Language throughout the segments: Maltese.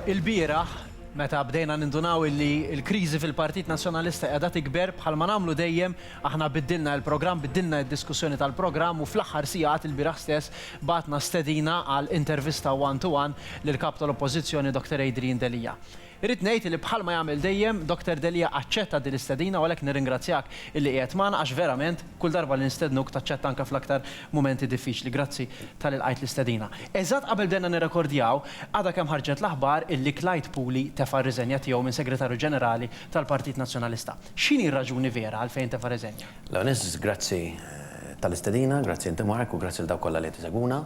Ilbieraħ, meta bdejna nindunaw illi l-kriżi fil-Partit Nazzjonalista qiegħda tikber, bħalma nagħmlu dejjem, aħna biddilna l-programm, biddilna d-diskussjoni tal-programm u fl-aħħar sigħat ilbieraħ stess bagħatna stedina għal intervista one to one lill-Kap tal-Oppożizzjoni Dr. Adrian Delia. Irrid ngħid li bħalma jagħmel dejjem, Doktor Delia aċċetta din l-istedina u għalhekk nirringrazzjak illi qiegħed magħna għax verament kull darba li nistednuk taċċetta anke fl-aktar mumenti diffiċli. Grazzi ta' l-ilqajt l-istedina. Eżatt qabel bdejna nirrekordjaw, għadha kemm ħarġet l-aħbar illi Clyde Puli tefa' r-riżenja tiegħu minn Segretarju Ġenerali tal-Partit Nazzjonalista. X'inhi r-raġuni vera għalfejn tefa' riżenja? L-ewwel nett grazzi ta' l-istedina, grazzi inti Mark u grazzi lil dawk kollha li qed isegwuna.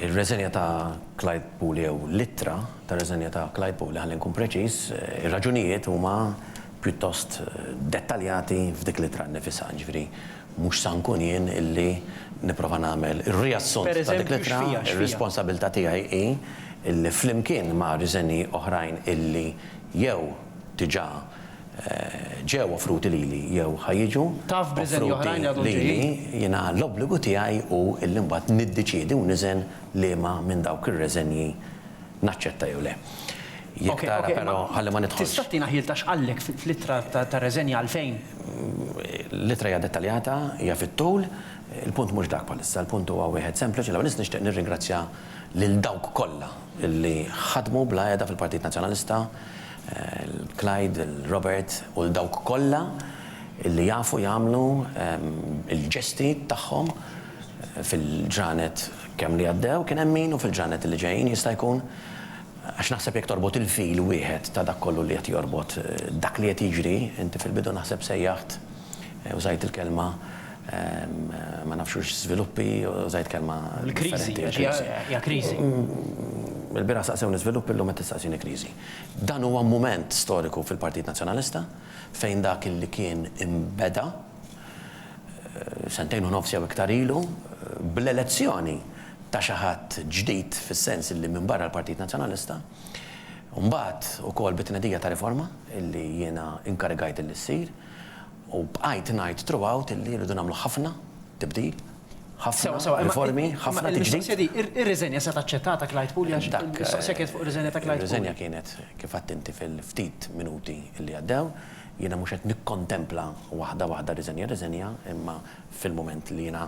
Ir-reżenja ta' Clyde Puli jew l-ittra ta' reżenja ta' Clyde Puli, ħalli nkun preċiż, ir-raġunijiet huma pjuttost dettaljati f'dik l-ittra nnifisha, jiġifieri mhux sa nkun jien illi nipprova nagħmel ir-riassunt ta' dik l-ittra, ir-responsabilità tiegħi hi illi flimkien ma' riżenji oħrajn illi jew diġà ġew offruti lili jew ħa jiġu offruti lili, jiena l-obbligu tiegħi hu li mbagħad niddeċiedi u niżen liema minn dawk ir-reżenji naċċetta jew le. Jekk tara però, ħalli ma nidħolx. Tista' ttina ħiel ta' x'qallek fl-ittra ta' reżenja għalfejn? L-ittra hija dettaljata, hija fit-tul. Il-punt mhux dak bħalissa, il-punt huwa wieħed sempliċi, l-ewwel nett nixtieq nirringrazzja lil dawk kollha li ħadmu bla qiegħda fil-Partit Nazzjonalista, 'l Clyde, 'l Robert u 'l dawk kollha li jafu jagħmlu l-ġesti tagħhom fil-ġranet kemm li għaddew kien hemm min u fil-ġranet li ġejjin jista' jkun għax naħseb jekk torbot il-fil wieħed ta' dak kollu li qed jorbot dak li qed jiġri inti fil-bidu naħseb sejjaħt użajt il-kelma ma nafx hux żviluppi użajt kelma differenti. Il-kriżi, hija kriżi. Il-bieraħ staqsewni żviluppi llum qed tistaqsini kriżi. Dan huwa mument storiku fil-Partit Nazzjonalista fejn dak li kien inbeda sentejn u nofs jew iktar ilu bl-elezzjoni ta' xi ħadd ġdid fis-sens illi minbarra l-Partit Nazzjonalista u mbagħad ukoll bit-tnedija ta' riforma illi jiena inkarigajt illi ssir u bqajt ngħid throughout illi rridu nagħmlu ħafna tibdil Ħafna riformi, ħafna tiġdid. Sewa, sewa, imma il-mistoqsija di, ir-riżenja setgħet ċċettata ta' Clyde Puli għax il-mistoqsija kienet fuq ir-riżenja ta' Clyde Puli. Ir-riżenja kienet, kif għedt inti fil-ftit minuti li għaddew, jiena mhux qed nikkontempla waħda waħda riżenja riżenja, imma fil-mument li jiena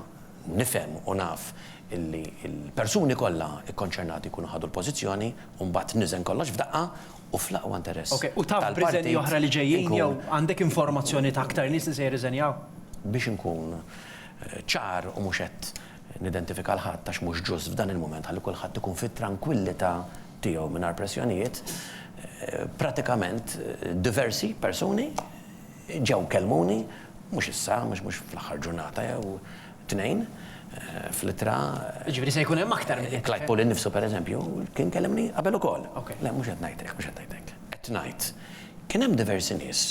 nifhem u naf illi l-persuni kollha kkonċernati jkunu ħadu l-pożizzjoni, imbagħad niżen kollox f'daqqa u fl-aqwa interess tal-partit inkun. Ok, u taf b'riżenji oħra li ġejjin jew għandek informazzjoni ta' aktar nies li se jirriżenjaw? Biex inkun ċar u mhux qed nidentifika 'l ħadd għax mhux ġust f'dan il-mument ħalli kulħadd ikun fit-trankwillità tiegħu mingħajr pressjonijiet, pratikament diversi persuni ġew kellmuni, mhux issa, mhux mhux fl-aħħar ġurnata jew tnejn, fl-ittra. Jiġifieri se jkun hemm aktar minn hekk? Clyde Pawlin nnifsu pereżempju kien kellimni qabel ukoll. Le mhux qed ngħid hekk, mhux qed ngħid hekk. Qed ngħid, kien hemm diversi nies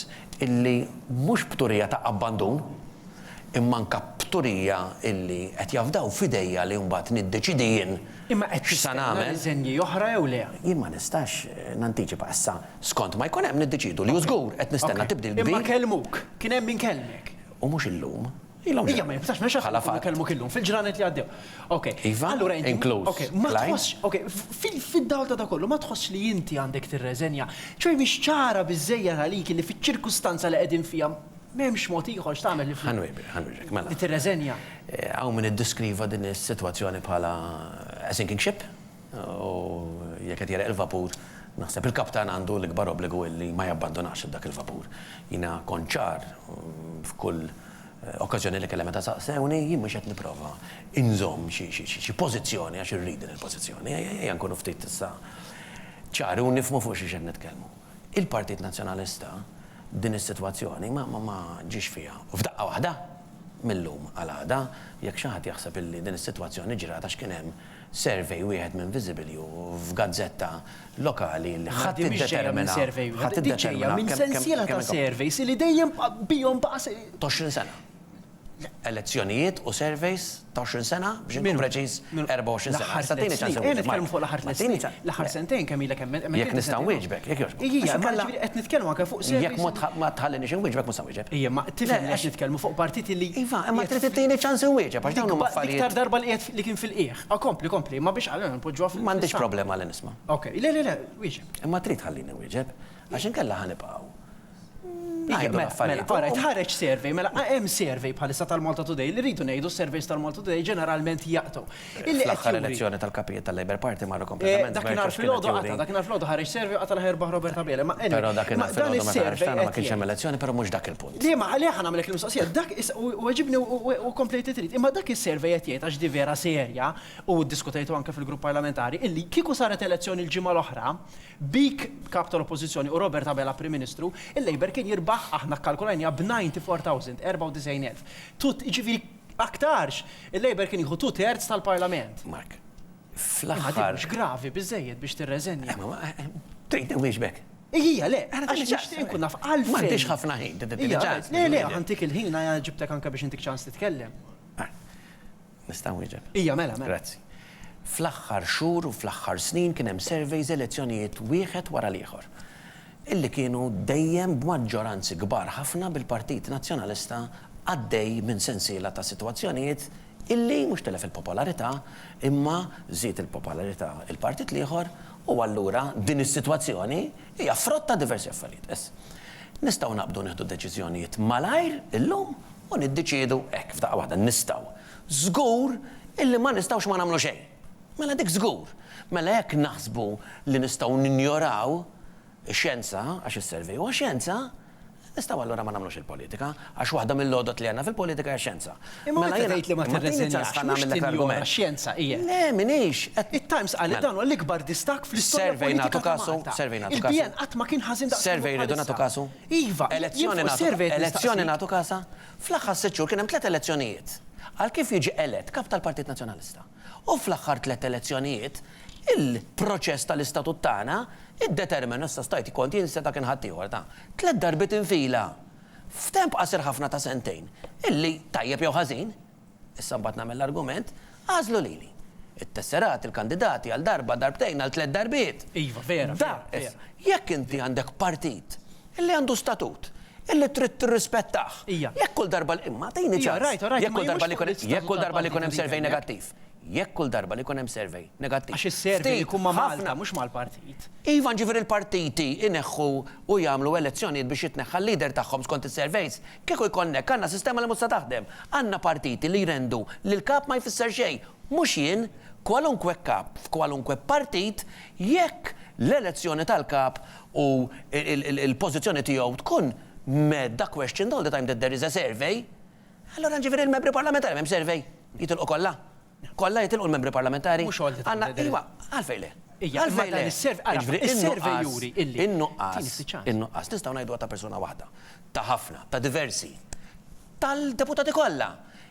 illi mhux b'turija ta' abbandun, Imma anke b'turija illi qed jafdaw f'idejja li mbagħad niddeċidi jien Imma qed tistenna riżenji oħra jew le? Jien ma nistax nantiċipa issa. Skont ma jkun hemm niddeċiedu li hu żgur qed nistenna tibdil kbir. Imma kellmuk? Kien hemm min kellmek? U mhux illum. Ilhom ġranet. Iva, ma jimptax, ma nafx jekk ikunu kellmuk illum, fil-ġranet li għaddew. Okej. Iva, inkluż. Okej, ma tħossx, okej, fid-dawl ta' dak kollu, ma tħossx li inti għandek tirreżenja? Ċoj mhix ċara biżżejjed għalik illi fiċ-ċirkustanza li qegħdin fiha M'hemmx mod ieħor x'tagħmel li. Ħa nwieġbek, ħa nwieġbek, mela. Li tirreżenja. Hawn min iddiskriva din is-sitwazzjoni bħala a sinking ship u jekk qed jegħreq il-vapur, naħseb il-kaptan għandu l-ikbar obbligu illi ma jabbandunax dak il-vapur. Jiena kont ċar f'kull okkażjoni li kelli meta saqsewni, jien mhux qed nipprova inżomm xi pożizzjoni għax irrid din il-pożizzjoni. Ejja nkunu ftit issa ċari u nifhmu fuq xiex qed nitkellmu. Il-Partit Nazzjonalista din is-sitwazzjoni ma ma ġiex fiha u f'daqqa waħda, mil-lum għal għada, jekk xi ħadd jaħseb illi din is-sitwazzjoni ġrat għax kien hemm survey wieħed minn Visibilly u f'gazzetta lokali illi ħadd iddetermina. Din mhix ġejja minn survey wieħed, din ġejja minn sensiela ta' surveys illi dejjem bihom baqa' se. T'għoxrin sena. elezzjonijiet u surveys ta' 20 sena, biex inkun preċiż 24 sena. Issa tini ċans inwieġbek. Ejja nitkellmu fuq l-aħħar tliet snin. L-aħħar sentejn kemm ilek hemm? Jekk nista' nwieġbek, jekk jogħġbok. Ejja, imma jiġifieri qed nitkellmu anke fuq surveys. Jekk ma tħalliniex inwieġbek mhux se nwieġeb. Ejja, imma tifhem li qed nitkellmu fuq partiti li. Iva, imma trid ittini ċans inwieġeb għax dawn huma affarijiet. L-iktar darba li qiegħed li kien fil-qiegħ. Kompli, kompli, imma biex allura npoġġuha fil-. M'għandix problema li nisma'. Okej, le, le, le, wieġeb. Imma trid tħallini nwieġeb għax inkella ħa nibqgħu Ngħidu l-affarijiet. Mela, mela, ħareġ survey, mela hemm survey bħalissa tal-Malta Today li rridu ngħidu surveys tal-Malta Today ġeneralment jaqtgħu. L-aħħar elezzjoni tal-kapijiet tal-Labour Party marru kompletament. Dak nhar filgħodu qata, dak nhar filgħodu ħareġ survey qata l-ħajr baħ Robert Abela. Ma però dak nhar filgħodu ma tagħrifx tagħna ma kienx hemm elezzjoni però mhux dak il-punt. Le ma għalih ħa nagħmlek il-mistoqsija, dak u għeġibni u komplejt trid. Imma dak is-survey qed jgħid għax di vera serja, u ddiskutejtu anke fil-Grupp Parlamentari, illi kieku saret elezzjoni l-ġimgħa l-oħra, bik Kap tal-Oppożizzjoni u Robert Abela Prim Ministru, il-Labour kien jirbaħ, aħna kkalkulajniha b'ninety four thousand, erbgħa u disgħin elf. Jiġifieri aktarx, il-Labour kien jieħu two thirds tal-Parlament. Mark, fl-aħħar. Imma din mhux gravi biżżejjed biex tirreżenja. Trid inwieġbek? Ejja, le, għax nixtieq inkun naf għalfejn. M'għandix ħafna ħin, Le, le, ħantik il-ħin, ġibtek anke biex intik ċans titkellem. Nista' nwieġeb? Ija, mela, mela. Grazzi. Fl-aħħar xhur u fl-aħħar snin kien hemm surveys elezzjonijiet wieħed wara l-ieħor illi kienu dejjem b'maġġoranzi kbar ħafna bil-Partit Nazzjonalista għaddej minn sensiela ta' sitwazzjonijiet illi mhux tilef il-popolarità imma żied il-popolarità il-partit l-ieħor u allura din is-sitwazzjoni Hija frott ta' diversi affarijiet. Ess. Nistgħu naqbdu nieħdu deċiżjonijiet malajr illum u niddeċiedu hekk f'daqqa waħda. Nistgħu. Żgur illi ma nistgħux ma nagħmlu xejn. Mela dik żgur. Mela jekk naħsbu li nistgħu ninjoraw ix-xjenza, għax is-survey huwa xjenza, Nistgħu allura ma nagħmlux il-politika, għax waħda mill-għodod li għandna fil-politika hija x-xjenza. Imma meta tgħid li ma tirreżinjax, mhux tinjora x-xjenza qiegħed. Le, m'iniex qed. It-Times qal li dan huwa l-ikbar distakk fl-istorja politika ta' Malta. Survey nagħtu kasu? Survey nagħtu kasu? Il-PN qatt ma kien ħażin daqs kemm hu bħalissa. Survey rridu nagħtu kasu? Iva, jien fuq is-survey qed nistaqsi. Elezzjoni nagħtu kasha? Fl-aħħar sitt xhur kien hemm tliet elezzjonijiet għal kif jiġi elett Kap tal-Partit Nazzjonalista. U fl-aħħar tliet elezzjonijiet, il-proċess tal-istatut tagħna iddetermina, issa stajt ikont jien seta' kien ħaddieħor, ta' tliet darbiet infila, f'temp qasir ħafna ta' sentejn, illi, tajjeb jew ħażin, issa mbagħad nagħmel l-argument, għażlu lili. It-tesserat, il-kandidati, għal darba, darbtejn, għal tliet darbiet! Iva, vera, vera, vera. Jekk inti għandek partit Illi għandu statut. Illi trid tirrispettah. Hija. Jekk kull darba li, imma tini ċans. Hija, rajt, rajt, imma hi mhux fuq l-istatut tal-Partit Laburista hemmhekk. Jekk kull darba li jkun hemm survey negattiv, jekk kull darba li jkun hemm survey negattiv. Għax is-survey jkun ma' Malta, mhux mal-partit. Iva, jiġifieri l-partiti jneħħu u jagħmlu elezzjonijiet biex jitneħħa l-leader tagħhom skont is-surveys. Kieku jkollna hekk, għandna sistema li mhux se taħdem. Għandna partiti li jrendu li l-kap ma jfisser xejn. Mhux jien, kwalunkwe kap f'kwalunkwe partit, jekk l-elezzjoni tal-kap u l-pożizzjoni tiegħu tkun mhedda, questioned, all the time that there is a survey, allura jiġifieri l-Membri Parlamentari m'hemm survey? Jitilqu kollha? Kollha jitilqu l-Membri Parlamentari? Mhux all the time that there is. Iva, għalfejn le? Għalfejn le? Jiġifieri in-nuqqas, in-nuqqas, nistgħu ngħiduha ta' persuna waħda, ta' ħafna, ta' diversi, tal-Deputati kollha.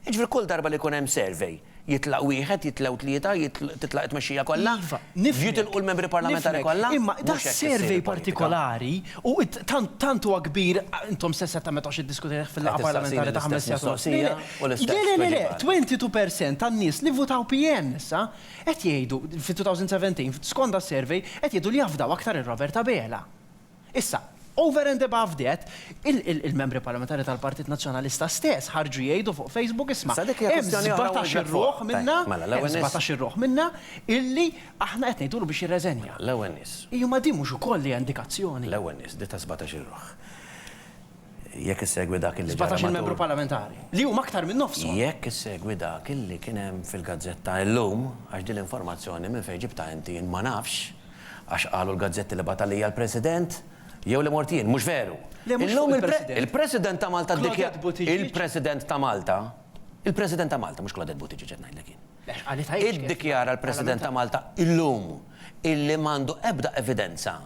Jiġifieri kull darba li jkun hemm survey, jitlaq wieħed, jitlew tlieta, titlaq it-tmexxija kollha? Iva, nifhmek. Jitilqu l-membri parlamentari kollha? Nifhmek, imma da survey partikolari, u tant, tant huwa kbir, intom stess qed tagħmlu meta x'iddiskutejnih fil-laqgħa parlamentari ta' ħames sigħat u nofs. Qed tistaqsini l-istess mistoqsija u l-istess tweġiba. Le, le, le, le, twenty two per cent tan-nies li vvutaw PN issa, qed jgħidu, fi two thousand seventeen, skont da' survey, qed jgħidu li jafdaw aktar ir-Robert Abela. Issa, over and above that, il-Membri Parlamentari tal-Partit Nazzjonalista stess ħarġu jgħidu fuq Facebook, isma', hemm sbatax-il ruħ minna, hemm sbatax-il ruħ minna illi aħna qed ngħidulu biex jirreżenja. Ijoma din mhux ukoll hija indikazzjoni? L-ewwel ness, di ta' sbatax-il ruħ. Jekk issegwi dak li ġara matul. 17-il Membru Parlamentari, li huma aktar minn nofshom. Jekk issegwi dak li kien hemm fil-gazzetta illum, għax din l-informazzjoni minn fejn ġibtha inti jien ma nafx, għax qalu l-gazzetti li bagħatha lija l-President jew li mort jien, mhux veru? Le mhux fuq il-President. Illum il-President ta' Malta ddikjara. Claudette Buttigieg. Il-President ta' Malta, il-President ta' Malta, mhux Claudette Buttigieg qed ngħidlek jien. Iddikjara l-President ta' Malta llum illi m'għandu ebda evidenza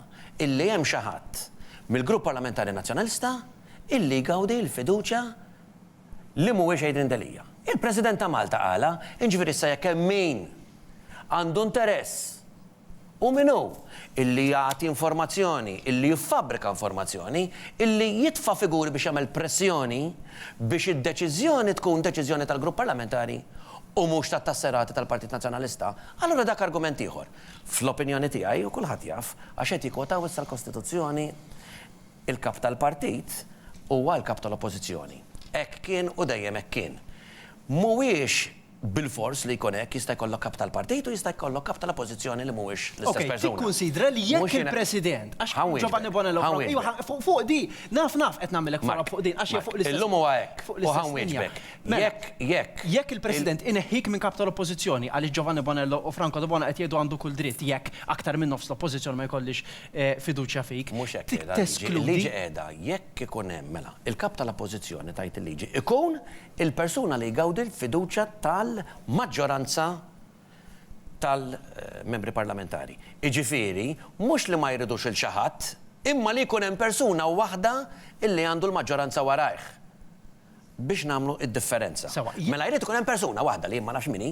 illi hemm xi ħadd mill-Grupp Parlamentari Nazzjonalista illi jgawdi l-fiduċja li mhuwiex Adrian Delia. Il-President ta' Malta qalha, jiġifieri issa jekk hemm min għandu interess Hu min hu, illi jagħti informazzjoni, illi jiffabbrika informazzjoni, illi jitfa' figuri biex jagħmel pressjoni biex id-deċiżjoni tkun deċiżjoni tal-Grupp Parlamentari u mhux tat-tasserati tal-Partit Nazzjonalista, allura dak argument ieħor. Fl-opinjoni tiegħi, u kulħadd jaf, għax qed jikkwotaw issa l-Kostituzzjoni, il-Kap tal-Partit huwa l-Kap tal-Oppożizzjoni. Hekk kien u dejjem hekk kien. Mhuwiex. Bilfors li jkun hekk, jista' jkollok Kap tal-Partit u jista' jkollok Kap tal-Oppożizzjoni li mhuwiex l-istess persuna. Okej, tikkunsidra li jekk il-President, għax Giovanni Bonello Franco, iva ħa nwieġbek. Fuq di, naf naf qed nagħmilek follow up fuq din, għax hija fuq l-istess linja. Mark, illum huwa hekk, u ħa nwieġbek. Jekk, jekk. Jekk il-President ineħħik minn Kap tal-Oppożizzjoni għaliex Giovanni Bonello u Franco Debono qed jgħidu għandu kull dritt jekk aktar minn nofs l-Oppożizzjoni ma jkollhiex fiduċja fik, teskludi. Mhux hekk qiegħda l-liġi. Il-liġi qiegħda jekk ikun hemm, mela, il-Kap tal-Oppożizzjoni, tgħid il-liġi, ikun il-persuna li jgawdi l-fiduċja tal-maġġoranza tal-Membri Parlamentari. Jiġifieri, mhux li ma jridux lil xi ħadd, imma li jkun hemm persuna waħda li għandu l-maġġoranza warajh biex nagħmlu d-differenza. Mela jrid ikun hemm persuna waħda li jien ma nafx min hi,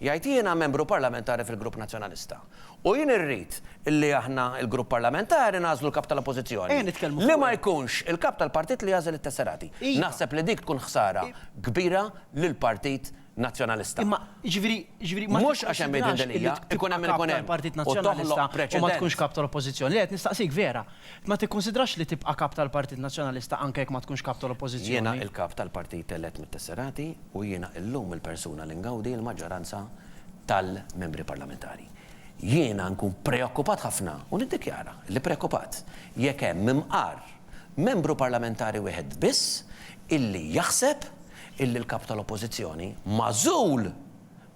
Jgħid jiena membru parlamentari fil-Grupp Nazzjonalista u jien irrid li aħna l-Grupp Parlamentari nagħżlu l-Kap tal-Oppożizzjoni li ma jkunx il-Kap tal-Partit li jagħżel it-tesserati. Naħseb li dik tkun ħsara kbira lill-Partit Nazzjonalista. Mhux għax hemm Aiden Delia, ikun hemm min ikun hemm u toħloq preċedent. Ma tikkunsidrax li tibqa' Kap tal-Partit Nazzjonalista anke jekk ma tkunx Kap tal-Oppożizzjoni? Jiena il-Kap tal-Partit elett mit-tesserati u jiena illum il-persuna li ngawdi l-maġġoranza tal-Membri Parlamentari. Jiena nkun preokkupat ħafna, u niddikjara li preokkupat, jekk hemm mimqar Membru Parlamentari wieħed biss illi jaħseb illi l-Kap tal-Oppożizzjoni magħżul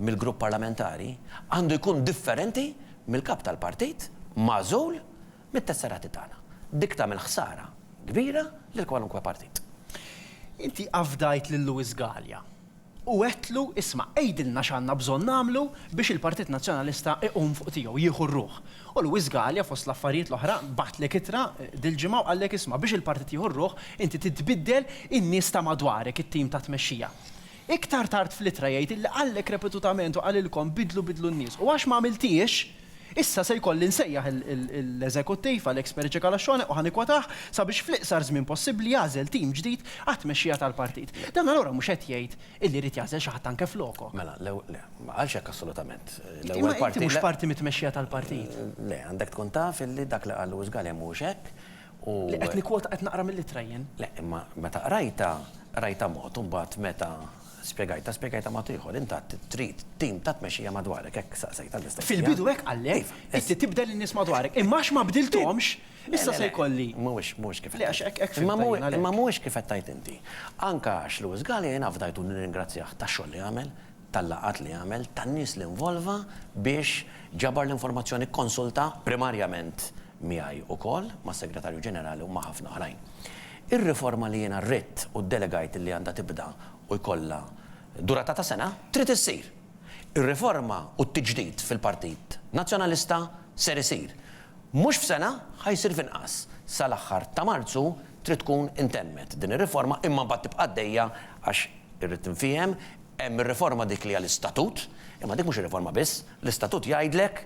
mill-Grupp Parlamentari għandu jkun differenti mill-Kap tal-Partit magħżul mit-tesserati tagħna. Dik tagħmel ħsara kbira lil kwalunkwe partit. Inti afdajt lil Louis Galea u għedtlu, isma', għidilna x'għandna bżonn nagħmlu biex il-Partit Nazzjonalista iqum fuq tiegħu, jieħu r-ruħ. U Louis Galea, fost l-affarijiet l-oħra, bagħtlek ittra dil-ġimgħa u qallek, isma', biex il-Partit jieħu r-ruħ, inti trid tbiddel in-nies ta' madwarek, it-tim tat-tmexxija. Iktar tard fl-ittra jgħid illi qallek repetutament u qalilkom biddlu biddlu n-nies u għax ma għamiltiex, issa se jkolli nsejjaħ l-Eżekuttiv, Alex Perice Calascione, u ħa nikkwotah, sabiex fl-iqsar żmien possibbli jagħżel tim ġdid għat-tmexxija tal-partit. Dan allura mhux qed jgħid illi jrid jagħżel xi ħadd anke floku. Mela, le, ma qalx hekk assolutament. Imma inti mhux parti mit-tmexxija tal-partit. Le, għandek tkun taf illi dak li qal Louis Galea mhuwiex hekk. Li qed nikkwota qed naqra mill-ittra jien. Le, imma meta qrajtha, qrajtha mod u mbagħad meta spjegajtha, spjegajtha mod ieħor. Int għedt trid tim ta' tmexxija madwarek, hekk staqsejtha l-mistħija. Fil-bidu hekk qaltlek, inti tibdel in-nies madwarek, imma għax ma bdilthomx, issa se jkolli. Mhuwiex, mhuwiex kif qed tgħid. Imma mhuwiex kif qed tgħid inti. Anke għax Louis Galea jiena fdajtu nirringrazzjah tax-xogħol li għamel, tal-laqgħat li għamel, tan-nies li involva biex ġabar l-informazzjoni, kkonsulta primarjament miegħi ukoll, mas-Segretarju Ġenerali u ma' ħafna oħrajn. Ir-riforma li jiena ridt u ddelegajt li għandha tibda u jkollha durata ta' sena, trid issir. Ir-riforma u t-tiġdid fil-Partit Nazzjonalista ser isir. Mhux f'sena, ħa jsir f'inqas. Sal-aħħar ta' Marzu trid tkun intemmet din ir-riforma imma mbagħad tibqa' għaddejja għax irrid infiehem Hemm ir-riforma dik li hija l-istatut, imma dik mhux ir-riforma biss, l-istatut jgħidlek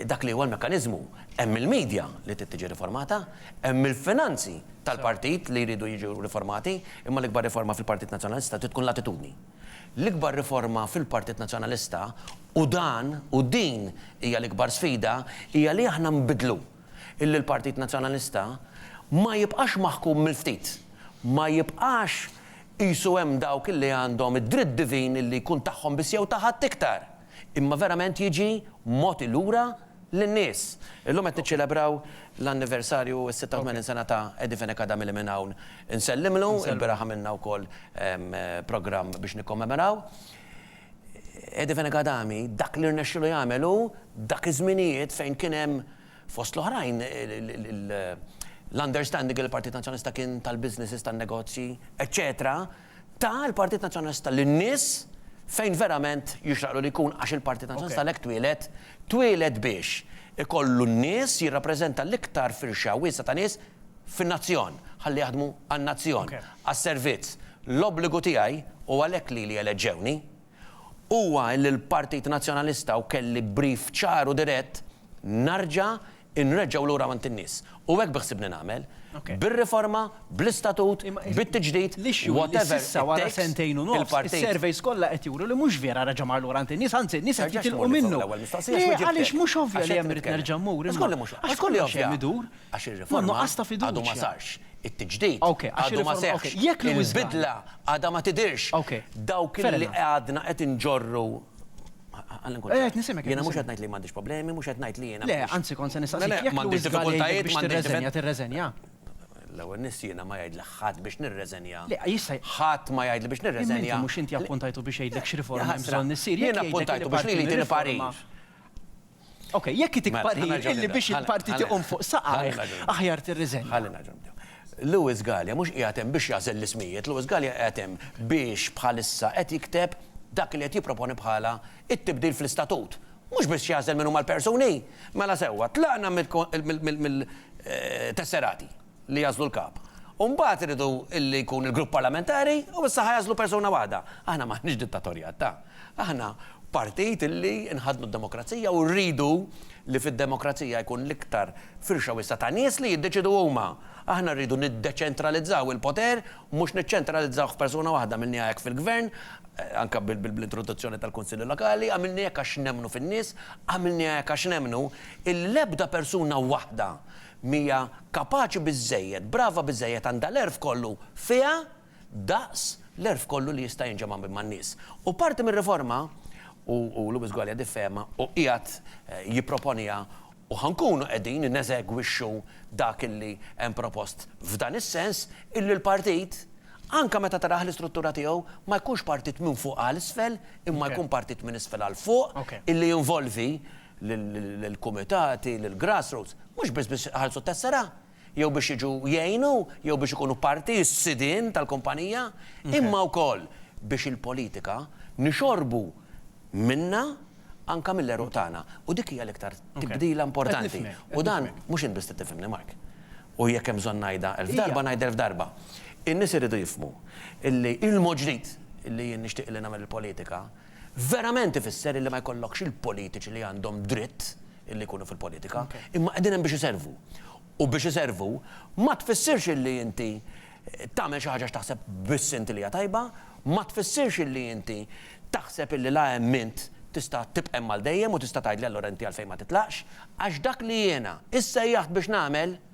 dak li huwa l-mekkaniżmu. Hemm il-media li trid tiġi riformata, hemm il-finanzi tal-partit li jridu jiġu riformati, imma l-ikbar riforma fil-Partit Nazzjonalista trid tkun l-attitudni. L-ikbar riforma fil-Partit Nazzjonalista, u dan u din hija l-ikbar sfida, hija li aħna nbiddlu. illi l-Partit Nazzjonalista ma jibqax maħkum mill-ftit, ma jibqax qisu hemm dawk illi għandhom id-dritt divin illi jkun tagħhom biss jew ta' ħadd iktar, imma verament jiġi mogħti lura lin-nies. Illum qed niċċelebraw l-anniversarju, is-86 sena ta' Eddie Fenech Adami li minn hawn insellimlu, ilbieraħ għamilna wkoll programm biex nikkommemoraw. Edivene Gadami, dak li rnexxielu jagħmel hu dak iż-żminijiet fejn kien hemm fost l-oħrajn l-understanding li l-Partit Nazzjonalista kien tal-businesses, tan-negozji, eċċetera, ta l-Partit Nazzjonalista lin-nies fejn verament jixraqlu li jkun għax il-Partit Nazzjonalista għalhekk twieled, twieled biex ikollu n-nies jirrappreżenta l-iktar firxa wiesgħa ta' nies fin-nazzjon, ħalli jaħdmu għan-nazzjon, għas-servizz, L-obbligu tiegħi, u għalhekk lili eleġġewni, huwa li l-Partit Nazzjonalista u kelli brief ċar u dirett narġa' nreġġgħu lura għand in-nies. U hekk biħsibni nagħmel. Bir-riforma, bl-istatut, bit-tiġdid, whatever it takes, il-Partit. Żgur li mhux ovvja. Għax ir-riforma għadu ma sarx, it-tiġdid għadu ma seħħx, il-bidla għadha ma tidhirx. Dawk li għadna qed inġorru, ħalli nkun ċar, jiena mhux qed ngħid li m'għandix problemi, mhux qed ngħid li jiena. Le, anzi kont se nistaqsik jekk m'għandix diffikultajiet biex tirreżenja, tirreżenja. L-ewwel nies jiena ma jgħidli ħadd biex nirreżenja. Le, jista'. Ħadd ma jgħidli biex nirreżenja. Mhux inti appuntajtu biex jgħidlek x'riforma hemm bżonn issir. Jien appuntajtu biex lili jtini parir. Ok, jekk itik parir illi biex il-parti tiqum fuq saqajh, aħjar tirriżenja. Louis Galea mhux qiegħed hemm biex jagħżel l-ismijiet, Louis Galea qiegħed hemm biex bħalissa qed jikteb dak li qed jipproponi bħala t-tibdil fl-istatut, mhux biex jagħżel min huma l-persuni! Mela sewwa, tlaqna mill-tesserati. li jagħżlu l-Kap. U mbagħad iridu li jkun il-Grupp Parlamentari u issa ħa jagħżlu persuna waħda. Aħna m'aħniex dittatorjata. Aħna partit li nħaddnu d-demokrazija u rridu li fid-demokrazija jkun l-iktar firxa wiesgħa ta' nies li jiddeċiedu huma. Aħna rridu niddeċentralizzaw il-poter mhux niċċentralizzawh f'persuna waħda. Għamilniha hekk fil-Gvern, anke bl-introduzzjoni tal-Kunsilli Lokali, għamilni hekk għax nemmnu fin-nies, għamilniha hekk għax nemmnu li l-ebda persuna waħda Mija kapaċi biżżejjed, brava biżżejjed, għandha l-għerf kollu fiha daqs l-għerf kollu li jista' jinġema' minn man-nies. U parti mir-riforma, u Louis Goalia tiffehemha u qiegħed jipproponiha u ħa nkunu qegħdin neżegwixxu dak li hemm propost f'dan is-sens, illi l-partit, anke meta tarah l-istruttura tiegħu, ma jkunx partit minn fuq għal isfel, imma jkun partit minn isfel għal fuq, illi jinvolvi lill-kumitati, lill-grassroots, mhux biss biex iħallsu t-tessera, jew biex jiġu jgħinu, jew biex ikunu parti, s-sidien tal-kumpanija, imma wkoll biex il-politika nixorbu minnha anke mill-għeruq tagħna. U dik hija l-iktar tibdila importanti. U dan mhux int biss trid tifhimni, Mark. U jekk hemm bżonn ngħidha elf darba, ngħidha elf darba. In-nies iridu jifhmu li l-mod ġdid li jien nixtieq li nagħmel il-politika, verament ifisser illi ma jkollokx il-politiċi li għandhom dritt illi jkunu fil-politika, imma qegħdin hemm biex iservu. U biex iservu ma tfissirx illi inti tagħmel xi ħaġa x'taħseb biss int li hija tajba, ma tfissirx illi inti taħseb illi la hemm int tista' tibqa' hemm għal dejjem u tista' tgħidli allura inti għalfejn ma titlaqx, għax dak li jiena issejjaħt biex nagħmel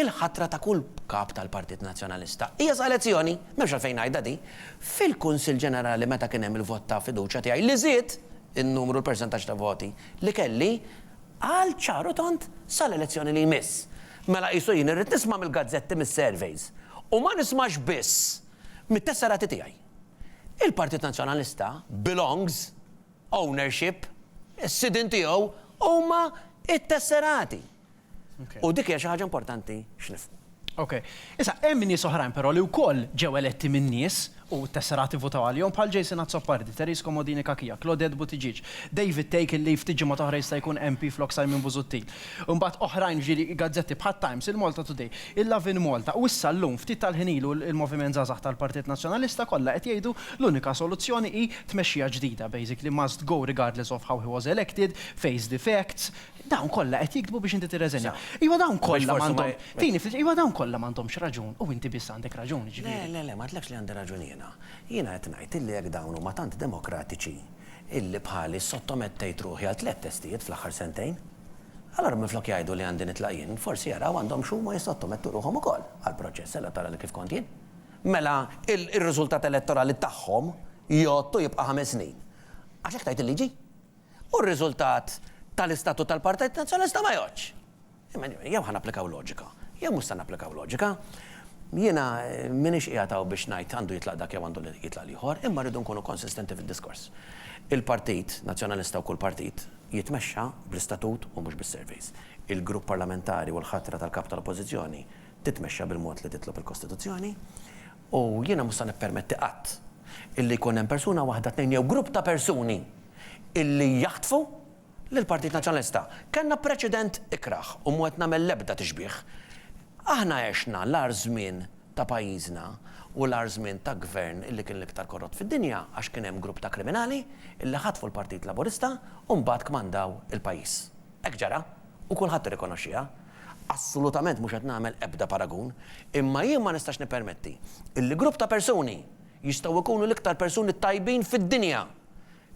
Il-ħatra ta' kull Kap tal-Partit Nazzjonalista hija sa elezzjoni, m'hemmx għalfejn ngħidha din. Fil-Kunsill Ġenerali meta kien hemm il-vot ta' fiduċja tiegħi li żied in-numru l-persentaġġ ta' voti li kelli, qal ċar u tond sa l-elezzjoni li jmiss. Mela qisu jien irrid nisma' mill-gazzetti mis-surveys u ma nismax biss mit-tesserati tiegħi. Il-Partit Nazzjonalista belongs, ownership, is-sidien tiegħu huma t-tesserati. U dik hija xi ħaġa importanti x'nifhmu. Ok. Issa, hemm nies oħrajn però li wkoll ġew eletti min-nies u t-tesserati vvutaw għalihom bħal Jason Azzopardi, Therese Comodini Cachia, Claudette Buttigieg, David Thake li ftit ġimgħat oħra jista' jkun MP flok Simon Busuttil. Imbagħad oħrajn jiġifieri gazzetti bħat-Times, il-Malta Today, il-Lovin Malta u issa llum ftit tal-ħin ilu l-Moviment Żgħażagħ tal-Partit Nazzjonalista kollha qed jgħidu l-unika soluzzjoni hi tmexxija ġdida basically must go regardless of how he was elected, face the facts, Dawn kollha qed jiktbu biex inti tirreżenja. Iva dawn kollha ma għandhom. Tini ftit, iva dawn kollha ma għandhomx raġun u inti biss għandek raġun, jiġifieri. Le, le, le, ma għedtlekx li għandi raġun jiena. Jiena qed ngħid illi jekk dawn huma tant demokratiċi illi bħali ssottomettejt ruħi għal tliet testijiet fl-aħħar sentejn, allura minflok jgħidu li għandi nitlaq jien, forsi jaraw għandhomx huma jissottomettu ruħhom ukoll għall-proċess elettorali kif kont jien. Mela r-riżultat elettorali tagħhom jgħodd u jibqa' ħames snin. Għax hekk tgħid il-liġi. U r-riżultat tal-istatut tal-Partit Nazzjonalista ma jgħoddx. Jew ħa napplikaw loġika, jew mhux se napplikaw loġika. Jiena m'iniex qiegħed hawn biex ngħid għandu jitlaq dak jew għandu jitlaq l-ieħor, imma rridu nkunu konsistenti fid-diskors. Il-Partit Nazzjonalista u kull partit jitmexxa bl-istatut u mhux bis-surveys. Il-grupp parlamentari u l-ħatra tal-Kap tal-Oppożizzjoni titmexxa bil-mod li titlob il-Kostituzzjoni. U jiena mhux se nippermetti qatt illi jkun hemm persuna waħda, tnejn jew grupp ta' persuni illi jaħtfu lill-Partit Nazzjonalista. Kellna preċedent ikrah u mhu qed nagħmel l-ebda tixbih. Aħna għexna l-agħar żmien ta' pajjiżna u l-agħar żmien ta' Gvern illi kien l-iktar korrott fid-dinja għax kien hemm grupp ta' kriminali illi ħatfu l-Partit Laburista u mbagħad kmandaw il-pajjiż. Hekk ġara. U kulħadd irrikonoxxiha. Assolutament mhux qed nagħmel ebda paragun, imma jien ma nistax nippermetti illi grupp ta' persuni, jistgħu jkunu l-iktar persuni tajbin fid-dinja,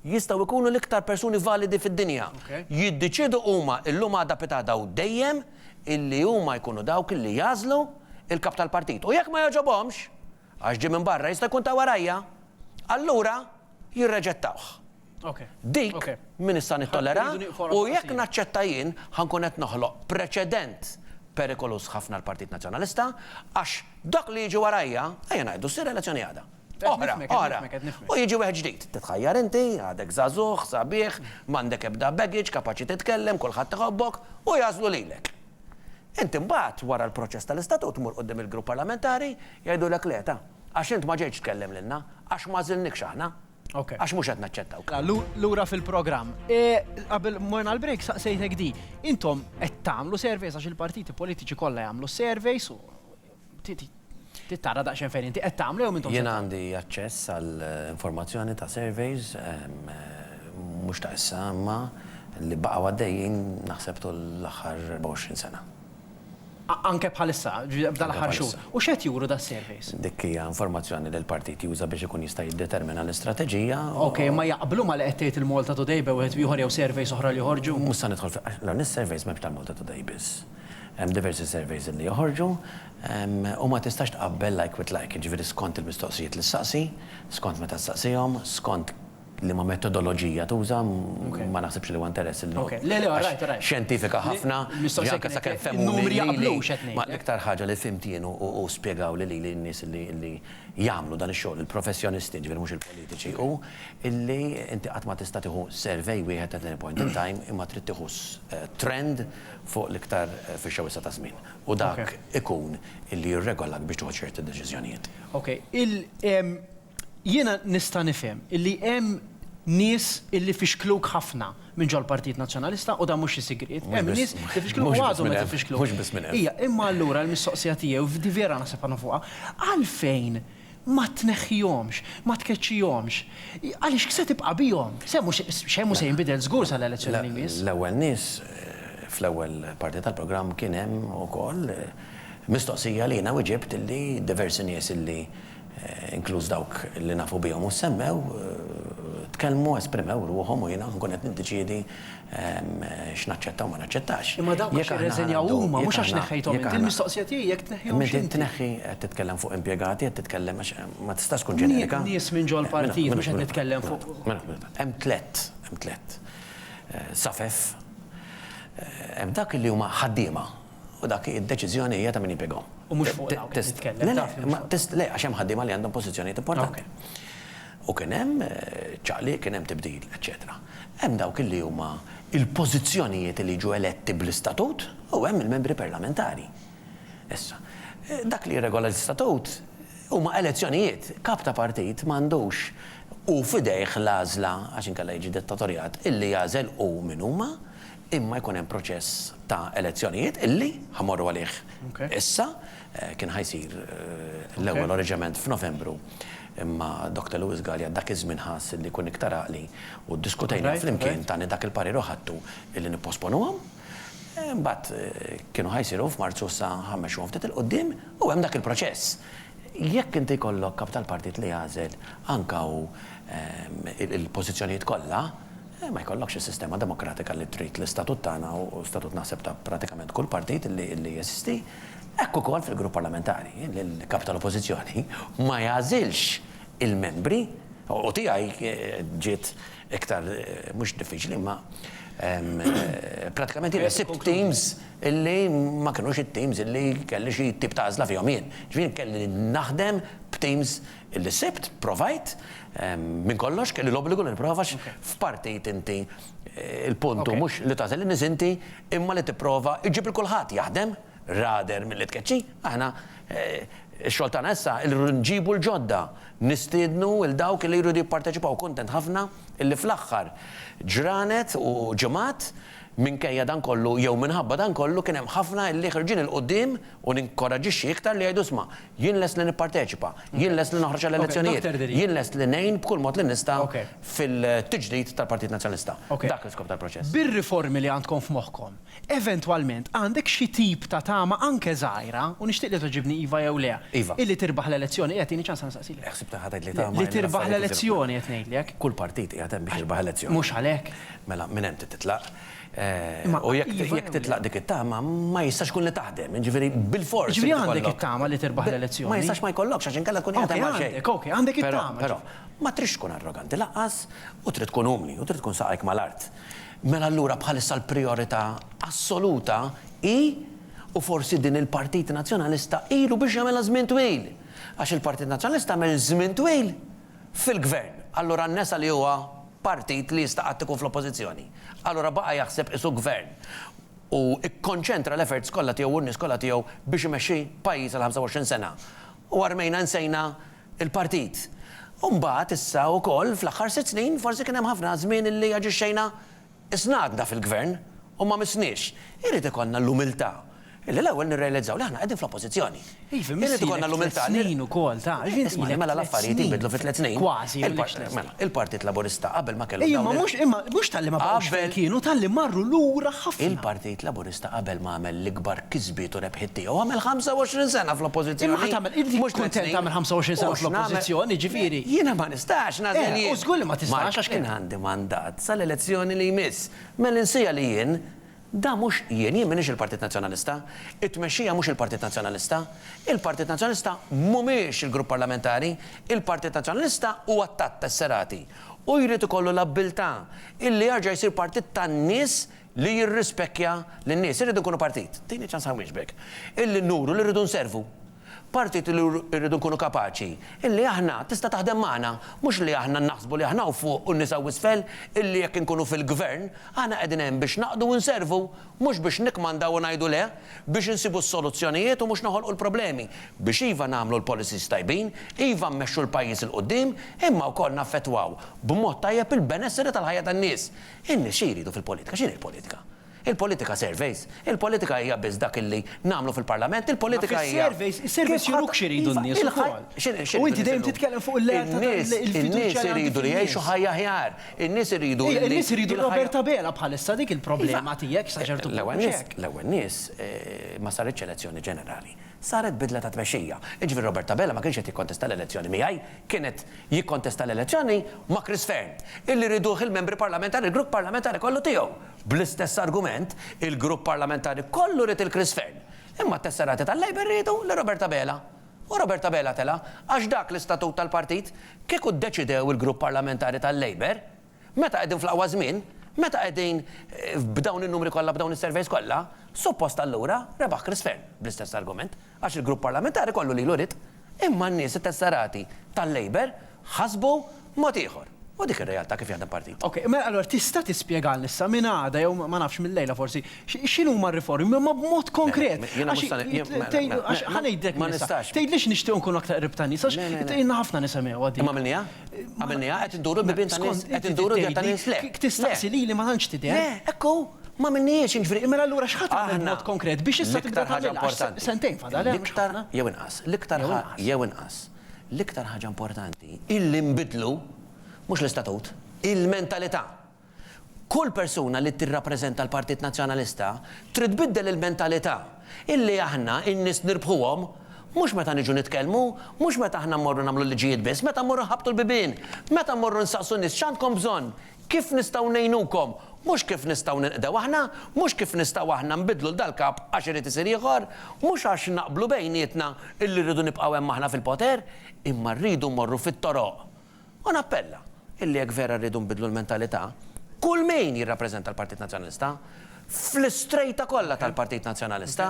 jistgħu jkunu l-iktar persuni validi fid-dinja, jiddeċiedu huma illum għada pitgħada u dejjem illi huma jkunu dawk illi jagħżlu l-Kap tal-Partit. U jekk ma jogħġobhomx, Għax ġie minn barra jista' jkun ta' warajja, allura jirreġettawh. Dik mhi nista' nittolera u jekk naċċetta jien ħa nkun qed noħloq preċedent perikoluż ħafna l-Partit Nazzjonalista għax dawk li jiġu warajja, ejja ngħidu, ssir elezzjoni għada. Oħra, oħra. U jiġi wieħed ġdid. Titħajjar inti, għadek żagħżugħ, sabiħ, m'għandek ebda baggage, kapaċi titkellem, kulħadd iħobbok, u jagħżlu lilek. Int imbagħad wara l-proċess tal-istatut tmur quddiem il-grupp parlamentari jgħidulek le ta' għax int ma ġejtx tkellem lilna għax m'għażilnikx aħna għax mhux qed naċċettawk. Lura fil-programm. Qabel morna għall-break saqsejtek di. Intom qed tagħmlu surveys għax il-partiti politiċi kollha jagħmlu surveys u Tittara daqsxejn fejn inti qed tagħmlu jew min toħseb. Jien għandi aċċess għal informazzjoni ta' surveys, mhux ta' issa, imma li baqgħu għaddejjin naħseb tul l-aħħar 24 sena. Anke bħalissa, f'dan l-aħħar xhur. U x'qed juru da' surveys? Dik hija informazzjoni li l-partit juża biex ikun jista' jiddetermina l-istrateġija. Okej, imma jaqblu ma' li qed tgħid il-Malta Today bejn wieħed u ieħor jew surveys oħra li joħorġu? Mhux se nidħol fi. Dawn is-surveys mhux tal-Malta Today biss. Hemm diversi surveys li joħorġu u ma tistax tqabbel like with like, jiġifieri skont il-mistoqsijiet li ssaqsi, skont meta ssaqsihom, skont liema metodoloġija tuża, ma naħsibx li huwa interess li għax xjentifika ħafna, anke sakemm fehmuni lili, ma l-iktar ħaġa li fhimt jien u spjegawli lili n-nies li jagħmlu dan ix-xogħol, il-professjonisti, jiġifieri mhux il-politiċi, hu li inti qatt ma tista' tieħu survey wieħed at any point in time imma trid tieħu trend fuq l-iktar firxa wiesgħa ta' żmien, u dak ikun li jirregolak biex tieħu ċerti deċiżjonijiet. Ok, il, jiena nista' nifhem li hemm nies li fixkluk ħafna minn ġol-Partit Nazzjonalista u dan mhux xi sigriet, hemm nies li fixkluk u għadhom qed ifixkluk. Mhux biss minn hemm. Ija, imma allura l-mistoqsija tiegħi, u di vera naħseb għadna fuqha, għalfejn Ma tneħħihomx, ma tkeċċihomx. Għaliex kse tibqa' bihom? Se mhux, xejn mhux se jinbidel żgur sal-elezzjoni li jmiss. L-ewwel nies, fl-ewwel parti tal-programm kien hemm ukoll mistoqsija li jiena wiġibt li diversi nies li, inkluż dawk li nafu bihom u ssemmew, tkellmu, esprimew ruħhom u jiena nkun qed niddeċiedi x'naċċetta u ma naċċettax. Imma dawk għax jirreżenjaw huma, mhux għax neħħejthom int. Il-mistoqsija tiegħi jekk tneħħihomx int. Imma inti tneħħi, qed titkellem fuq impjegati, qed titkellem għax ma tistax tkun ġenerika. Nies minn ġol-partit, mhux qed nitkellem fuq. Mela, mela, hemm tliet, hemm tliet. Safef, hemm dak li huma ħaddiema, U dak id-deċiżjoni hija ta' min jimpjegahom. U mhux fuq dawk qed nitkellem. Le, le, imma tista', le, għax hemm ħaddiema li għandhom pożizzjonijiet importanti. U kien hemm ċaqliq, kien hemm tibdil, eċċetera. Hemm dawk illi huma l-pożizzjonijiet illi jiġu eletti bl-istatut u hemm il-membri perlamentari. Issa, dak li jirregola l-istatut huma elezzjonijiet. Kap ta' partit m'għandux hu f'idejh l-għażla, għax inkella jiġi dittatorjat, illi jagħżel hu min huma Imma jkun hemm proċess ta' elezzjonijiet illi ħa mmorru għalih issa, kien ħa jsir l-ewwel oriġament f'Novembru imma Dr. Louis Galea dak iż-żmien ħass illi jkun iktar għaqli u ddiskutejna flimkien tani dak il-parir u ħadtu illi nipposponuhom. Imbagħad kienu ħa jsiru f'Marzu issa ħa mmexxuhom ftit 'il quddiem u hemm dak il-proċess. Jekk inti jkollok Kap tal-Partit li jagħżel anke hu l-pożizzjonijiet kollha, Ma jkollokx is-sistema demokratika li trid l-istatut tagħna u l-istatut naħseb ta' pratikament kull partit li jeżisti, hekk ukoll fil-grupp parlamentari, li l-Kap tal-Oppożizzjoni ma jagħżilx il-membri, u tiegħi ġiet iktar mhux diffiċli imma pratikament jiena sibt teams li ma kinux it-teams li kelli xi tip ta' għażla fihom jien. Ġifieri kelli naħdem b'teams Illi sibt, provajt, minn kollox kelli l-obbligu li nipprova għax f'partit inti l-punt hu mhux li tagħżel lil nies inti imma li tipprova ġġib lil kulħadd jaħdem rather milli tkeċċi. Aħna x-xogħol tagħna issa rridu nġibu l-ġodda, nistiednu lil dawk li jridu jipparteċipaw. Kuntent ħafna illi fl-aħħar ġranet u ġimgħat minkejja dan kollu jew minħabba dan kollu kien hemm ħafna illi ħerġin 'il quddiem u ninkoraġġixxi iktar li jgħidu isma', Jien lest li nipparteċipa, jien lest li noħroġ għall-elezzjonijiet, jien lest li ngħin b'kull mod li nista' fil-tiġdid tal-Partit Nazzjonalista. Dak l-iskop tal-proċess. Bir-riformi li għandkom f'moħħkom, eventwalment għandek xi tip ta' tama anke żgħira, u nixtieq li tweġibni iva jew le, illi tirbaħ l-elezzjoni? Qiegħed tini ċans ħa nistaqsilek. Ħsibtek ħa tgħidli tama. Li tirbaħ l-elezzjoni qed ngħidlek. Kull partit qiegħed hemm biex jirbaħ elezzjoni. Mhux għalhekk. Mela minn hemm trid titlaq. Imma jekk titlaq dik it-tama, ma jistax ikun li taħdem, jiġifieri bilfors irid ikollok. Jiġifieri għandek it-tama li tirbaħ l-elezzjoni. Ma jistax ma jkollokx għax inkella tkun qiegħed hemm għal xejn. Okej, okej, għandek it-tama. Però, però, ma tridx tkun arroganti lanqas u trid tkun umli u trid tkun saqajk mal-art. Mela allura bħalissa l-prijorità assoluta hi, u forsi din il-Partit Nazzjonalista ilu biex jagħmilha żmien twil, għax il-Partit Nazzjonalista għamel żmien twil fil-Gvern, allura nnesa li huwa partit li jista' qatt ikun fl-Oppożizzjoni. Allura baqa' jaħseb qisu Gvern u kkonċentra l-efforts kollha tiegħu u n-nies kollha tiegħu biex imexxi pajjiż għal 25 sena. U armejna insejna l-partit. U mbagħad issa wkoll fl-aħħar sitt snin forsi kien hemm ħafna żmien li aġixxejna Isna għadna fil-Gvern u ma missniex. Irid ikollna l-umiltà li l-ewwel nirrealizzaw li aħna qegħdin fl-Oppożizzjoni. Irid ikollna l-umiltà li. Ismagħni, mela l-affarijiet jinbidlu fi tliet snin. Mela, il-Partit Laburista qabel ma kellu dawn il. Il-Partit Laburista qabel ma għamel l-ikbar kisbiet u rebħiet tiegħu għamel 25 sena fl-Oppożizzjoni. Mhux tliet snin. Jiena ma nistax nagħżel jien. Jien għandi mandat. sal-elezzjoni li jmiss. Mel-insija li jien, dan mhux jien, jien m'iniex il-Partit Nazzjonalista, it-tmexxija mhux il-Partit Nazzjonalista, il-Partit Nazzjonalista mhumiex il-Grupp Parlamentari, il-Partit Nazzjonalista huwa tat-tesserati u jrid ikollu l-abbiltà illi jarġa' jsir partit tan-nies li jirrispekkja lin-nies. Irridu nkunu partit, tini ċans ħa nwieġbek, illi nuru li rridu nservu. Partit li rridu nkunu kapaċi, illi aħna tista' taħdem magħna, mhux li aħna naħsbu li aħna hawn fuq u n-nisa hawn isfel, illi jekk inkunu fil-Gvern, aħna qegħdin hemm biex naqdu u nservu, mhux biex nikkmandaw u ngħidu le, biex insibu s-soluzzjonijiet u mhux noħolqu l-problemi, biex iva nagħmlu l-policies tajbin, iva mmexxu l-pajjiż 'il quddiem, imma wkoll naffettwaw b'mod tajjeb il-benesseri tal-ħajja tan-nies. In-nies xi jridu fil-politika? X'inhi l-politika? Il-politika surveys? Il-politika hija biss dak illi nagħmlu fil-Parlament? Il-politika hija. Ma fis-surveys, is-surveys juruk x'iridu n-nies ukoll. U inti dejjem titkellem fuq il-leal ta' il-fiduċja. In-nies iridu li jgħixu ħajja aħjar. In-nies iridu li. In-nies iridu Robert Abela bħalissa dik il-problema tiegħek sa ċertu punt mhux hekk? L-ewwel nies ma saritx elezzjoni ġenerali. Saret bidla ta' tmexxija. Jiġifieri Robert Abela ma kienx qed jikkontesta l-elezzjoni miegħi, kien qed jikkontesta l-elezzjoni ma' Chris Fearne, illi rieduh il-membri parlamentari, il-grupp parlamentari kollu tiegħu. Bl-istess argument, il-Grupp Parlamentari kollu ried il-Chris Fearne, imma t-tesserati tal-Labour riedu lil Robert Abela. U Robert Abela tela' għax dak l-istatut tal-partit kieku ddeċidew il-Grupp Parlamentari tal-Labour, meta qegħdin fl-aqwa żmien, meta qegħdin b'dawn in-numri kollha b'dawn is-surveys kollha, suppost allura rebaħ Chris Fearne, bl-istess argument. Għax il-Grupp Parlamentari kollu lilu ried, imma n-nies ittessarati tal-Labour ħasbu mod ieħor. U dik ir-realtà kif jaħdem partit. Ok, mela allura tista' tispjegalna issa minn għada jew ma nafx mil-lejla forsi, x'inhuma r-riformi, imma b'mod konkret. Jiena mhux se Għax ħa ngħidlek minn issa. Tgħidli x'nixtiequ nkunu aktar qrib tan-nies għax ilna ħafna nisemgħuha din. Imma għamilniha? Għamilniha? Qed induru l-bibien tan-nies? Qed induru d-djar tan-nies? Le. Tistaqsi lili ma tantx tidher. Le, hekk hu. M'għamilnihiex, jiġifieri, mela allura x'ħa tagħmel b'mod konkret biex issa tibda tagħmilha għax sentejn fadal, hemm mhux ħafna. L-iktar, jew inqas, l-iktar ħaġa, jew inqas, l-iktar ħaġa importanti hi li nbiddlu mhux l-istatut, il-mentalità. Kull persuna li tirrappreżenta l-Partit Nazzjonalista trid tbiddel il-mentalità illi aħna in-nies nirbħuhom mhux meta niġu nitkellmu, mhux meta aħna mmorru nagħmlu l-liġijiet biss, meta mmorru nħabbtu l-bibien, meta mmorru nsaqsu n-nies x'għandkom bżonn, Kif nistgħu ngħinukom? Mhux kif nistgħu ninqdew aħna, mhux kif nistgħu aħna nbiddlu 'l dal-kap għax irid isir ieħor, mhux għax naqblu bejnietna illi rridu nibqgħu hemm aħna fil-poter, imma rridu mmorru fit-toroq. U nappella illi jekk vera rridu nbiddlu l-mentalità, kull min jirrappreżenta l-Partit Nazzjonalista, fl-istrejta kollha tal-Partit Nazzjonalista,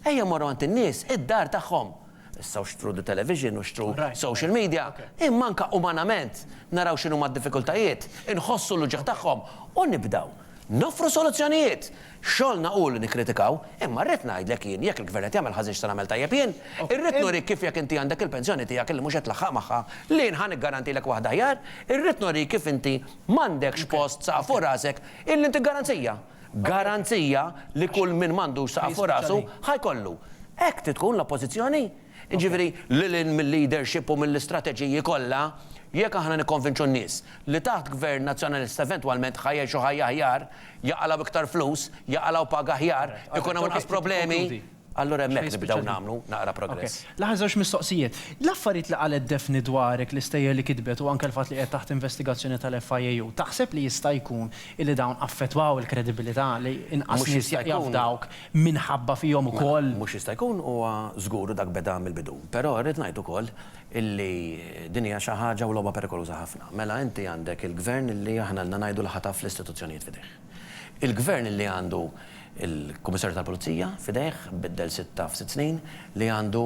ejja mmorru għand in-nies, id-dar tagħhom. Nistgħu xtru the television u xtru social media, imma anke umanament naraw x'inhuma d-diffikultajiet, inħossu l-uġigħ tagħhom u nibdew noffru soluzzjonijiet. Xogħolna hu li nikkritikaw, imma rrid ngħidlek jien jekk il-Gvern qed jagħmel ħażin x'se nagħmel tajjeb jien? Irrid nurik kif jekk inti għandek il-pensjoni tiegħek li mhux qed tlaħħaq magħha li jien ħa niggarantilek waħda aħjar? Irrid nurik kif inti m'għandekx post saqaf fuq rasek illi inti ggaranzija? garanzija li kull min m'għandux saqaf fuq rasu ħa jkollu. Hekk trid tkun l-Oppożizzjoni. Jiġifieri, lil hinn mil-leadership u mill-istrateġiji kollha, jekk aħna nikkonvinċu n-nies li taħt Gvern Nazzjonalista eventwalment ħa jgħixu ħajja aħjar, jaqalgħu iktar flus, jaqalgħu paga aħjar, ikun hawn inqas problemi, Allura hemmhekk nibdew nagħmlu naqra progress. L-aħħar żewġ mistoqsijiet. L-affarijiet li qalet Daphne dwarek, l-istejjer li kitbet u anke l-fatt li qiegħed taħt investigazzjoni tal-FIAU, taħseb li jista' jkun illi dawn affettwaw il-kredibilità li inqas nies jaf dawk minħabba fihom ukoll? Mhux jista' jkun, huwa żgur u dak beda mill-bidu. Però irrid ngħid ukoll illi din hija xi ħaġa u logħba perikoluża ħafna. Mela inti għandek il-Gvern illi aħna ilna ngħidu li ħataf l-istituzzjonijiet f'idejh. Il-Gvern li għandu l-Kummissarju tal-Pulizija f'idejh, biddel sitta f'sitt snin, li għandu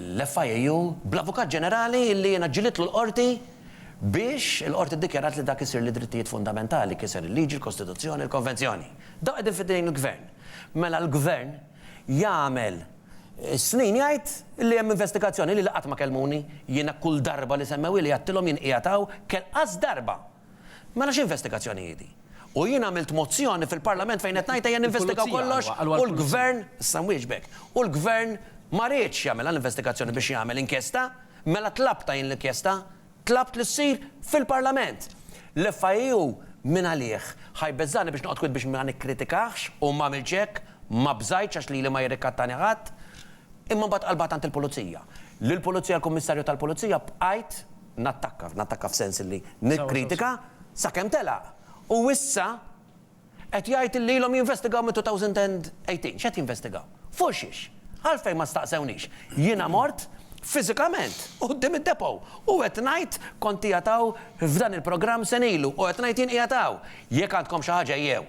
l-FIAU bl-Avukat Ġenerali li jiena ġġilidtlu l-Qorti biex il-Qorti ddikjarat li dak kisirli drittijiet fundamentali, kiser il-liġi, l-Kostituzzjoni, l-Konvenzjoni. Dawn qegħdin f'idejn il-Gvern. Mela l-Gvern jagħmel is-snin jgħid li hemm investigazzjoni, lili qatt ma kellmuni. Jiena kull darba li semmew illi għedtilhom jien qiegħed hawn, kelqas darba! Mela x'investigazzjoni hi di? U jien għamilt mozzjoni fil-Parlament fejn qed ngħid ejja ninvestigaw kollox u l-Gvern, issa nwieġbek, u l-Gvern ma riedx jagħmilha l-investigazzjoni biex jagħmel inkjesta, mela tlabtha jien l-inkjesta, tlabt li ssir fil-Parlament. L-FIU hu min għalih ħa jbeżżagħni biex noqgħod kwiet biex ma nikkritikahx u m'għamiltx hekk, ma bżajtx għax lili ma jirrikattani ħadd. Imma mbagħad qalbha tant il-Pulizija. Lill-Pulizija, l-Kummissarju tal-Pulizija bqajt Nattakka, nattakka f'sens illi nikkritika sakemm telaq. U issa qed jgħid illi ilhom jinvestigaw mit-2018. X'qed jinvestigaw? Fuq xiex? Għalfejn ma staqsewnix? Jiena mort fiżikament quddiem id-depot u qed ngħid kont qiegħed hawn f'dan il-programm sena ilu u qed ngħid jien qiegħed hawn. Jekk għandkom xi ħaġa ejjew.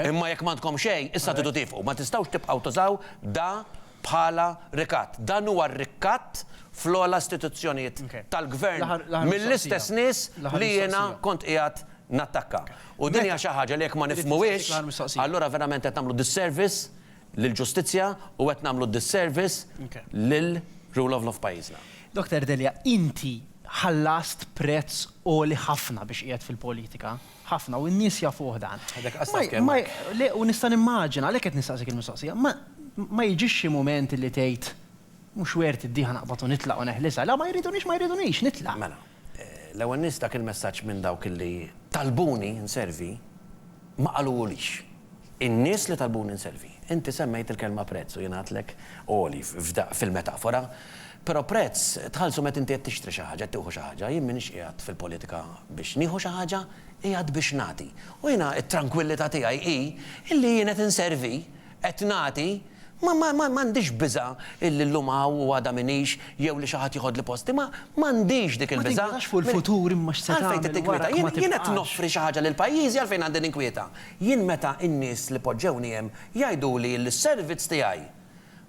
Imma jekk m'għandkom xejn, issa tridu tiefqu. Ma tistgħux tibqgħu tużaw da bħala rikatt. Dan huwa r-rikatt fl-ogħla istituzzjonijiet tal-Gvern mill-istess nies li jiena kont qiegħed nattakka. U din hija xi ħaġa li jekk ma nifhmuhiex, allura verament qed nagħmlu disservice lill-ġustizzja u qed nagħmlu disservice lill-rule of law f'pajjiżna. Doktor Delia, inti ħallast prezz għoli ħafna biex qiegħed fil-politika. Ħafna, u n-nies jafuh dan. Għadek qassar kelmek. Le, u nista' nimmaġina, għalhekk qed nistaqsik il-mistoqsija, ma ma jiġix xi mument li tgħid, Mhux wert iddieha naqbad u nitlaq u neħlisha. La, ma jridunix, ma jridunix, nitlaq. Mela, l-ewwel nies dak il-messaġġ minn dawk li talbuni nservi ma qaluhulix. In-nies li talbuni nselvi. Inti semmejt il-kelma prezz u jien għidtlek għoli fil-metafora, però prezz tħallsu meta inti qed tixtri xi ħaġa, qed tieħu xi ħaġa. Jien m'iniex qiegħed fil-politika biex nieħu xi ħaġa, qiegħed biex nagħti. U jiena t-trankwillità tiegħi hi illi jien qed inservi, qed nagħti, m'għandix biża' illi llum hawn u għada m'iniex jew li xi ħadd jiħodli posti, m'għandix dik il-biża'. Ma tinkwietax fuq il-futur imma x'se tagħmel wara jekk ma tibqax. Għalfejn titkwieta? Jien qed noffri xi ħaġa lil pajjiżi, għalfejn għandi ninkwieta? Jien meta n-nies li poġġewni hemm jgħiduli li s-servizz tiegħi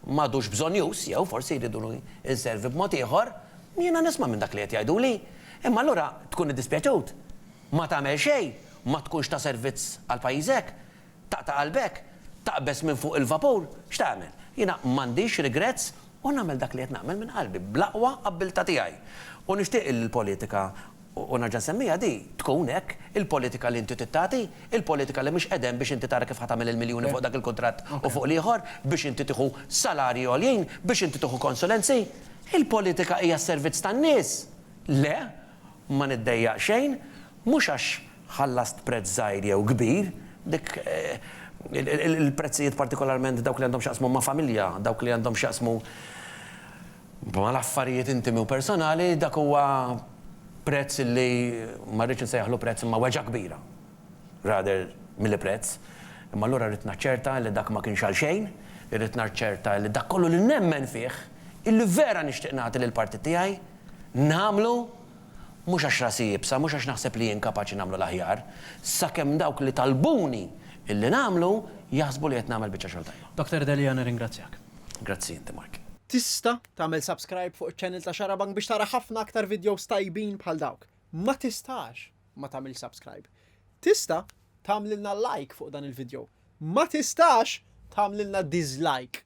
m'għadux bżonnjuż jew forsi jriduni nservi b'mod ieħor, jiena nisma' minn dak li qed jgħiduli. Imma allura tkun iddispjaċut? Ma tagħmel xejn? Ma tkunx ta' servizz għal pajjiżek? Taqta' qalbek? Taqbeż minn fuq il-vapur? X'tagħmel? Jiena m'għandix regrets u nagħmel dak li qed nagħmel minn qalbi bl-aqwa abbiltà tiegħi. U nixtieq li l-politika, u nerġa' nsemmiha di, tkun hekk il-politika li inti trid tagħti, il-politika li mhix qegħdha hemm biex inti tara kif ħa tagħmel il-miljuni fuq dak il-kuntratt u fuq l-ieħor, biex inti tieħu salarji għoljin, biex inti tieħu konsulenzi. Il-politika hija s-servizz tan-nies! Le, ma niddejjaq xejn, mhux għax ħallast prezz żgħir jew kbir, dik il-prezzijiet partikolarment dawk li għandhom x'jaqsmu ma' familja, dawk li għandhom x'jaqsmu B'ma l-affarijiet intimi u personali, dak huwa prezz li, ma rridx insejjaħlu prezz imma weġgħa kbira rather milli prezz. Imma allura rrid naċċerta li dak ma kienx għalxejn, irrid naċċerta li dak kollu li nemmen fih, illi vera nixtieq nagħti lill-partit tiegħi, nagħmlu, mhux għax rasi iebsa, mhux għax naħseb li jien kapaċi nagħmlu l-aħjar, sakemm dawk li talbuni illi nagħmlu jaħsbu li qed nagħmel biċċa xogħol tajba. Doktor Delia nirringrazzjak. Grazzi inti Mark. Tista tagħmel subscribe fuq iċ-channel ta' Xarabank biex tara ħafna aktar videos tajbin bħal dawk. Ma tistax ma tagħmilx subscribe. Tista tagħmlilna like fuq dan il-video. Ma tistax tagħmlilna dislike.